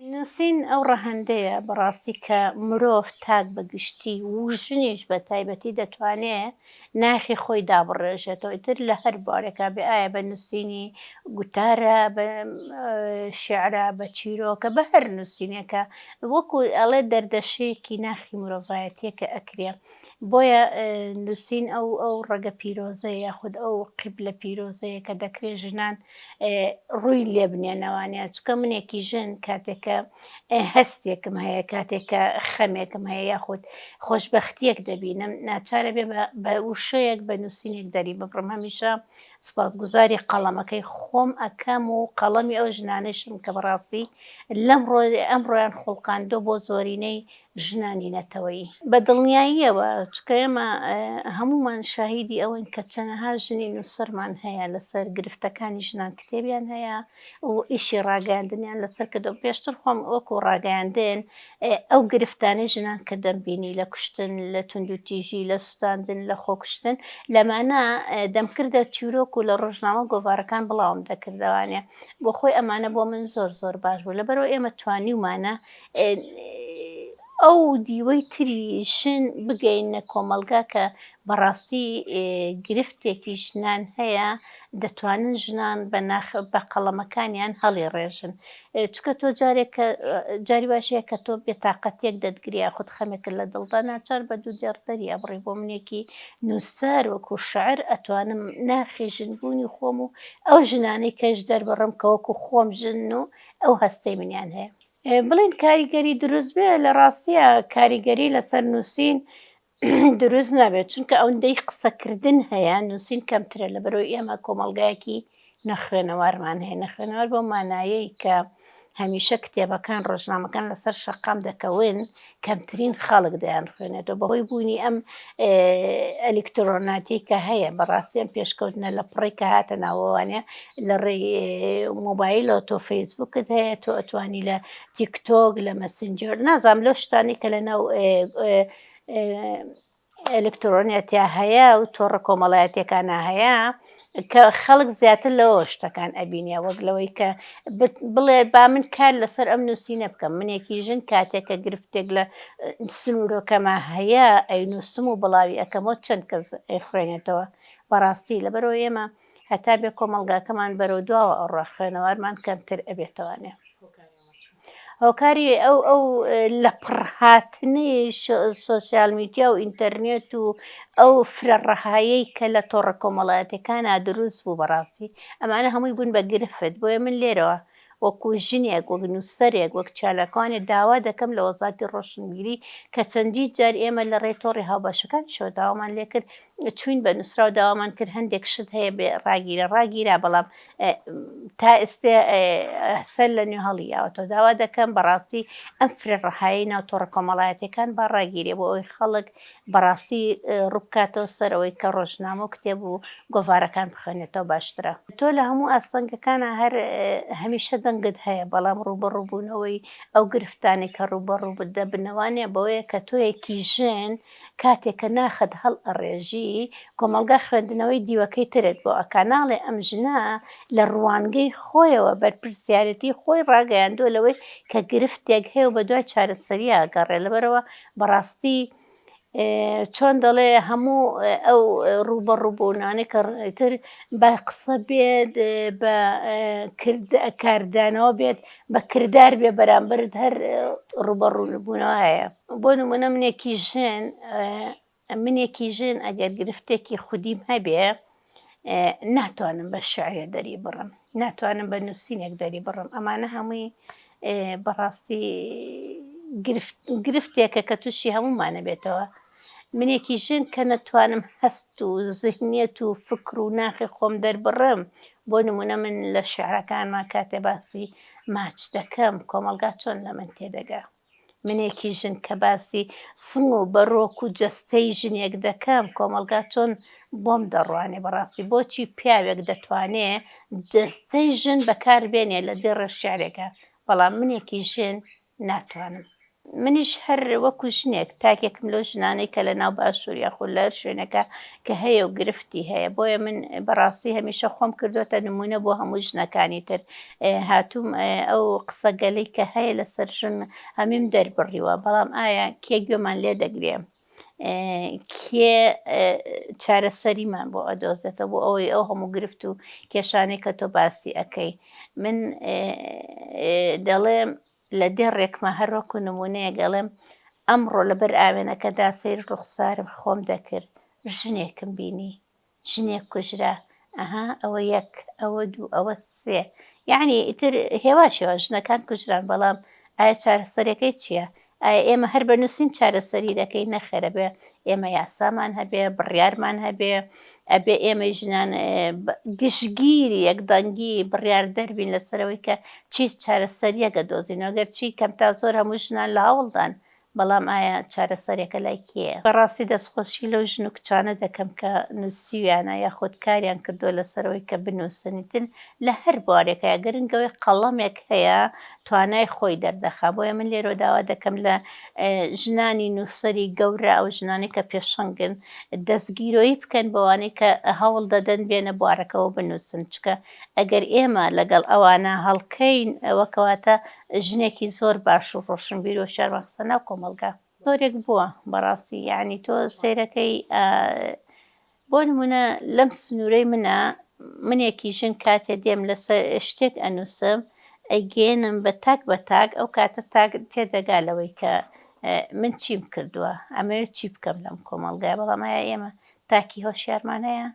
نووسین ئەو ڕەهەندەیە بەڕاستی کە مرۆڤ تاک بە گشتی و ژنیش بە تایبەتی دەتوانێ ناخی خۆی دابڕێژێتەوە ئیتر لە هەر بوارێکا بێ ئایا بە نووسینی گوتارە بە شێعرە بە چیرۆکە بە هەر نووسینێکا وەکوو ئەڵێ دەردەشەیەکی ناخی مرۆڤایەتییە کە ئەکرێ بۆیە نووسین ئەو ئەو ڕەگە پیرۆزەیە یاخود ئەو قیبلە پیرۆزەیە کە دەکرێت ژنان ڕووی لێ بنێنەوانە چکە منێکی ژن کاتێکە هەستێکم هەیە کاتێکە خەمێکم هەیە یاخود خۆشببختیەک دەبینم ناچارە بێ بە وشەیەک بە نووسینێک دەری ببڕم هەمیشە سپاسگوزاری قەڵەمەکەی خۆم ئەکەم و قەڵەمی ئەو ژنانەشم کە بەڕاستی لەم ڕۆ ئەم ڕۆیان خوڵقاندۆ بۆ زۆرینەی ژنانی نەتەوەیی بە دڵنیاییەوە، چونکە ئێمە هەموومان شاهیدی ئەوەین کە چەنەها ژنی نووسەرمان هەیە لەسەر گرفتەکانی ژنان کتێبیان هەیە و ئیشی ڕاگەیاندنیان لەسەر کردووە، پێشتر خۆم وەکو ڕاگەیاندن ئەو گرفتانەی ژنان کە دەمبینی لە کوشتن، لە توندوتیژی، لە سوتاندن، لە خۆکوشتن لەمانە دەمکردە چیرۆک و لە ڕۆژنامە گۆڤارەکان بڵاوم دەکردەوانێ بۆخۆی ئەمانە بۆ من زۆر زۆر باش بوو لەبەرەوە ئێمە توانیومانە ئەو دیوەی تری ژن بگەینە کۆمەڵگا کە بەڕاستی گرفتێکی ژنان هەیە دەتوانن ژنان بە ناخ بە قەڵەمەکانیان هەڵی ڕێژن چکە تۆ جارێک کە جاری باشەیە کە تۆ بێتاقەتێک دەتگریا خود خەمێکرد لە دڵدا ناچار بە دوو دێڕ دەری ئەبڕی بۆ منێکی نووسەر وەکو شعر ئەتوانم ناخی ژنبوونی خۆم و ئەو ژنانەی کەش دەربڕم کە وەکو خۆم ژن و ئەو هەستەی منیان هەیە بڵێن کاریگەری دروست بێ لە ڕاستیە کاریگەری لەسەر نووسین دروست نابێت چونکە ئەوەندەی قسەکردن هەیە نووسین کەمترە لە بەرەوەی ئێمە کۆمەلگایەکی نەخوێنەوارمان هەیە نەخوێنەوار بۆ مانایەی کە هەمیشە کتێبەکان ڕۆژنامەکان لەسەر شەقام دەکەون کەمترین خەڵک دەیانخوێنێتەوە بەهۆی بوونی ئەم ئەلیکترۆناتی کە هەیە بەڕاستی ئەم پێشکەوتنە لە پڕی کە هاتە ناوەوانە لە ڕێ مۆبایلەوە تۆ فەیسبوکت هەیە تۆ ئەتوانی لە تیکتۆک لە مەسنجەر نازام لەو شتانی کە لە ناو ئەلکترۆنیەتیا هەیە و تۆڕە کۆمەڵایەتیەکانا هەیە کە خەڵک زیاتر لەوەوە شتەکان ئەبینێ وەک لەوەی کە بڵێ با من کار لەسەر ئەم نووسینە بکەم منێکی ژن کاتێک کە گرفتێک لە سنوورەکەما هەیە ئەی نووسم و بڵاوی ئەەکەمەوە چەند کەس ئەی خوێنێتەوە بەڕاستی لەبەرەوە ئێمە هەتا بێ کۆمەڵگاکەمان بەرەو دواوە ئەڕوا خوێنەوارمان کەمتر ئەبێتەوانێ هۆکاری ئەو ئەو لە پڕهاتنی سوسیال میدیا و ئینتەرنێت و ئەو فرە ڕەهایی کە لە تۆڕە کۆمەڵایەتەکانە دروست بوو بەڕاستی ئەمانە هەمووی بوون بە گرفت بۆیە من لێرەوە وەکو ژنێک، وەک نووسەرێک، وەک چالاکوانێک داوا دەکەم لە وەزارەتی ڕۆشنبیری کە چەندین جار ئێمە لە ڕێی تۆڕی هاوبەشەکانیشەوە داوامان لێ کرد، چووین بە نووسراو داوامان کرد هەندێک شت هەیە بێ ڕاگیرە ڕاگیرا بەڵام تا ئێستێ سەر لە نوێ هەڵی یاوەتەوە داوا دەکەم بەڕاستی ئەم فرە ڕەهایی ناو تۆڕە کۆمەڵایەتیەکان با ڕاگیرێ بۆ ئەوی خەڵک بەڕاستی ڕووبکاتەوە سەر ئەوەی کە ڕۆژنامە و کتێب و گۆڤارەکان بخوێنێتەوە باشترە. تۆ لە هەموو ئاستەنگەکانا هەر هەمیشە دەنگت هەیە بەڵام ڕووبەڕووبوونەوەی ئەو گرفتانەی کە ڕووبەڕووبت دەبنە وانیە بەوەیە کە تۆیەکی ژن کاتێ کە ناخت هەڵئەڕێژی کۆمەڵگا خوێندنەوەی دیوەکەی ترت بۆ ئەکا ناڵێ ئەم ژنە لە ڕوانگەی خۆیەوە بەرپرسیارێتی خۆی ڕاگەیاندووە لەوەی کە گرفتێک هەیە و بەدوای چارەسەری ئەگەڕێ لەبەرئەوە بەڕاستی چۆن دەڵێ هەموو ئەو ڕووبەڕووبوونانەی کە ڕێتر بە قسە بێت بە کاردانەوە بێت بە کردار بێ بەرامبرت هەر ڕووبەڕوونبوونەوە هەیە بۆ نمونە منێکی ژێن منێکی ژن ئەگەر گرفتێکی خودیم هەبێ ناتوانم بە شعرێ دەری بڕم ناتوانم بە نووسینێک دەری بڕم ئەمانە هەمووی بەڕاستی گرفتێکە کە تووشی هەمومانە بێتەوە منێکی ژن کە نەتوانم هەست و زهنیەت و فکر و ناخی خۆم دەربڕم بۆ نمونە من لە شعرەکانمان کاتێ باسی ماچ دەکەم کۆمەلگا چۆن لە من تێدەگە منێکی ژن کە باسی سنگ و بەرۆک و جەستەی ژنێک دەکەم کۆمەڵگا چۆن بۆم دەڕوانێ بەڕاستی بۆچی پیاوێک دەتوانێ جەستەی ژن بەکاربێنێ لە دێڕێ شعرێکا بەڵام منێکی ژن ناتوانم. منیش هەر وەکو ژنێک تاکێکم لەو ژنانەی کە لە ناو باشور یاخود لە هەر شوێنێکا کە هەیە و گرفتی هەیە بۆیە من بەڕاستی هەمیشە خۆم کردۆتە نمونە بۆ هەموو ژنەکانی تر هاتووم ئەو قسەگەلەی کە هەیە لەسەر ژن هەمیم دەربڕیوە بەڵام ئایا کێ گوێمان لێ دەگرێ کێ چارەسەریمان بۆ ئەدۆزێتە بۆ ئەوەی ئەو هەموو گرفت و کێشانەی کە تۆ باسی ئەەکەی من دەڵێم لە دێ ڕێکمە هەروەکو نمونەیە گەڵێم ئەمڕۆ لەبەر ئاوێنەکەدا سیر ڕوخسارم خۆم دەکرد ژنێکم بینی ژنێک کوژرا ئەها ئەوە یەک ئەوە دوو ئەوە سێ یعنی ئیتر هێواش هێواش ژنەکان کوژران بەڵام ئایا چارەسەرەکەی چییە؟ ئایا ئێمە هەر بە نووسین چارەسەری دەکەین نەخێرە بێ ئێمە یاسامان هەبێ بڕیارمان هەبێ ئەبێ ئێمەی ژنان گشتگیری یەکدەنگی بڕیار دەربین لەسەرەوەی کە چی چارەسەریەکە دۆزینەوە گەرچی کەمتا زۆر هەموو ژنان لە هەوڵدان بەڵام ئایا چارەسەرێکە لای کێیە؟ بەڕاستی دەستخۆشی لەو ژن و کچانە دەکەم کە نووسیویانە یاخود کاریان کردووە لەسەرەوەی کە بنووسنیتن لە هەر بوارێکایە گرنگ ئەوەی قەڵەمێک هەیە توانای خۆی دەردەخا بۆیە من لێرەوە داوا دەکەم لە ژنانی نووسەری گەورە ئەو ژنانەی کە پێشەنگن دەستگیرۆیی بکەن بەوانەی کە هەوڵ دەدەن بێنە بوارەکەوە بنووسن چونکە ئەگەر ئێمە لەگەڵ ئەوانە هەڵکەین ئەوە کەواتە ژنێکی زۆر باش و ڕۆشنبیر و شارمان خستە ناو کۆمەڵگا. زۆرێک بووە بەڕاستی یانی تۆ سەیرەکەی بۆ نمونە لەم سنوورەی منە منێکی ژن کاتێ دێم لەسەر شتێک ئەنووسم ئەیگەێنم بە تاک بە تاک ئەو کاتە تاک تێدەگا لەوەی کە من چیم کردووە ئەمەوێت چی بکەم لەم کۆمەڵگای بەڵام ئایا ئێمە تاکی هۆشیارمان هەیە؟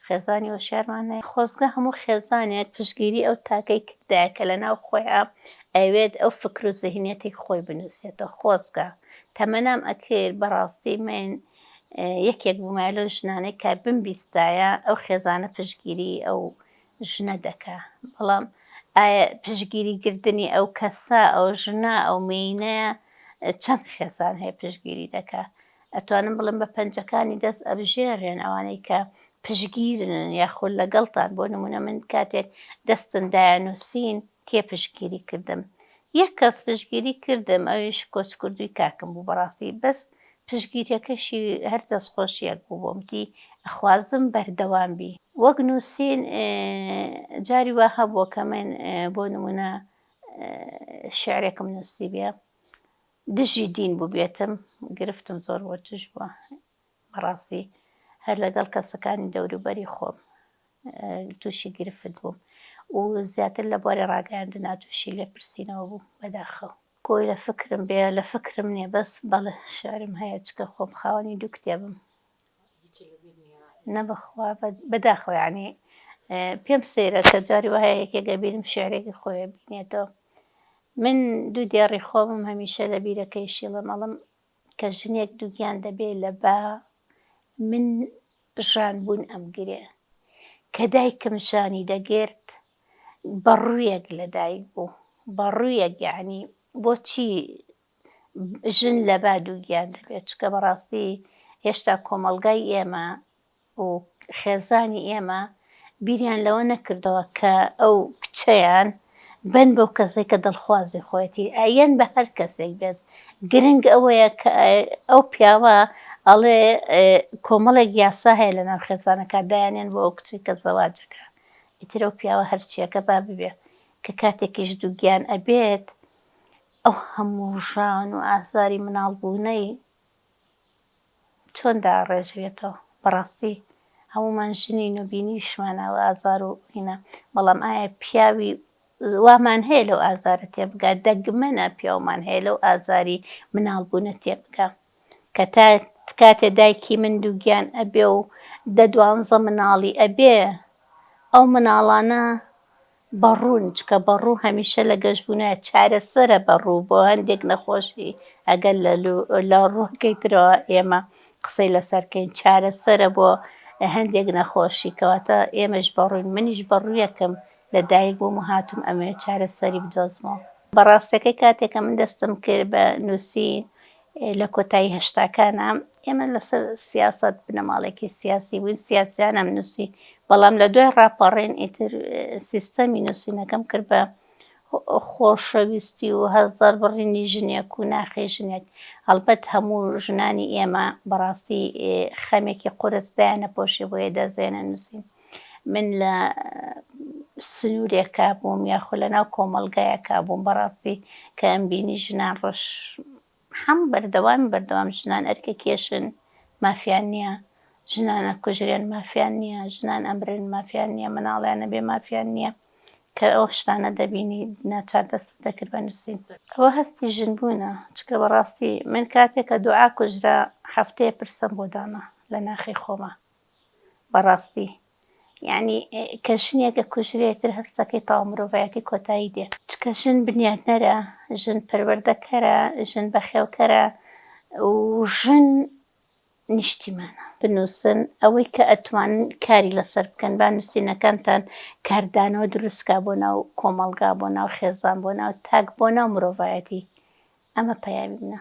خێزانی هۆشیارمان هەیە. خۆزگە هەموو خێزانێک پشتگیری ئەو تاکەی کردایە کە لەناو خۆیان ئەیەوێت ئەو فکر و زیهنیەتەی خۆی بنوسێتەوە خۆزگە تەمەنام ئەکرد بەڕاستی من یەکێک بومایە لەو ژنانەی کە بمبیستایە ئەو خێزانە پشتگیری ئەو ژنە دەکا بەڵام ئایا پشتگیری گردنی ئەو کەسە ئەو ژنە ئەو مێینەیە چەند خێزان هەیە پشتگیری دەکا ئەتوانم بڵێم بە پەنجەکانی دەست ئەبژێرێن ئەوانەی کە پشگیرن یاخود لەگەڵتان بۆ نمونە من کاتێک دەستن دایە نووسین کێ پشگیری کردم یەک کەس پشگیری کردم ئەویش کۆچکردووی کاکم بوو بەڕاستی بەس پشگیریەکەشی هەر دەست خۆشیەک بوو بۆمتی ئەخوازم بەردەوام بی وەک نووسین جاری وا هەبووە کە من بۆ نمونە شعرێکم نووسی بێ دژی دین بوبێتم گرفتم زۆر بۆ توش بوە بەڕاستی هەر لەگەڵ کەسەکانی دەوروبەری خۆم توشی گرفت بوم و زیاتر لە بواری ڕاگەیاندنا توشی لێ پرسینەوە بوم بەداخەوە. گوی لە فکرم بێ لە فکرم نیە بەس بەڵێ شعرم هەیە چکە خۆم خاوەنی دوو کتێبم نەبەخوا بەداخەوە یەعنی پێم سەیرە کە جاری وایە یەکێک لە بیرم شیعرێکی خۆی بینێتەوە من دوو دێڕی خۆمم هەمیشە لە بیرەکەی شیڵم ئەڵم کە ژنێک دووگیان دەبێ لە با من ژان بوون ئەمگرێ کە دایکم ژانی دەگرت بە ڕوویەک لە دایک بوو بە ڕوویەک یەعنی بۆچی ژن لە با دووگیان دەبێت چکە بەڕاستی هێشتا کۆمەڵگای ئێمە و خێزانی ئێمە بیریان لەوە نەکردەوە کە ئەو کچەیان بن بەو کەسێک کە دڵخوازی خۆەتی ئایەن بە هەر کەسێک بێت گرنگ ئەوەیە کە ئەو پیاوە ئەڵێ کۆمەڵێک یاسا هەیە لە ناو خێزانەکە دایانێن بۆ ئەو کچی کە زەواجەکە ئیترە و پیاوە هەرچیەکە با ببێ کە کاتێکیش دووگیان ئەبێت ئەو هەموو ژان و ئازاری مناڵ بوونەی چۆن داڕێژرێتەوە بەڕاستی هەموومان ژنین و بینیویشمان ئەو ئازار و هینا بەڵام ئایا پیاوی وامان هەیە لەو ئازارە تێبگا دەگمەنە پیاومان هەیە لەو ئازاری مناڵ بوونە تێبگا کە تا کاتێ دایکی من دووگیان ئەبێ و دە دوانزە مناڵی ئەبێ ئەو مناڵانە بەڕوون، چکە بەڕوو هەمیشە لە گەشبوونە، چارەسەرە بەڕوو بۆ هەندێک نەخۆشی، ئەگەر لە لە ڕووەکەی ترەوە ئێمە قسەی لەسەر کەین چارەسەرە بۆ هەندێک نەخۆشی کەواتە ئێمەش بەڕووین منیش بەڕوویەکم لە دایک بووم و هاتووم ئەمەوێت چارەسەری بدۆزمەوە. بەڕاستەکەی کاتێک کە من دەستم کرد بە نووسین لە کۆتایی هەشتاکانا ئێمە لەسەر سیاسەت بنەماڵەیەکی سیاسی بووین، سیاسیانەم نووسی، بەڵام لە دوای ڕاپەڕین ئیتر سیستەمی نووسینەکەم کرد بە خۆشەویستی و هەست دەربڕینی ژنێک و ناخی ژنێک، هەڵبەت هەموو ژنانی ئێمە بەڕاستی خەمێکی قورس دایاننەپۆشی بۆیە دەستدێنە نووسین. من لە سنوورێکا بووم یاخۆ لە ناو کۆمەڵگایەکا بووم بەڕاستی کە ئەمبینی ژنان ڕەش حەم بەردەوام بەردەوام ژنان ئەرکە کێشن مافیان نییە ژنانە کوژرێن مافیان نییە ژنان ئەمرن مافیان نییە مناڵیانە بێ مافیان نییە کە ئەو شتانە دەبینی ناچار دەست دەکرد بە نووسین ئەوە هەستی ژن بوونە چکە بەڕاستی من کاتێکە دوعا کوژرا هەفتەیە پرسەم بۆ دانا لە ناخی خۆمە بەڕاستی یەعنی کە ژنێک ئەکوژرێ ئیتر هەستەکەی تەواو مرۆڤایەتی کۆتایی دێ. چکە ژن بنیاتنەرە، ژن پەروەردەکەرە، ژن بەخێوکەرە و ژن نیشتیمانە. بنووسن ئەوەی کە ئەتوانن کاری لەسەر بکەن با نووسینەکانتان کاردانەوە دروست کا بۆ ناو کۆمەڵگا بۆ ناو خێزان بۆ ناو تاک بۆ ناو مرۆڤایەتی ئەمە پەیامی منە.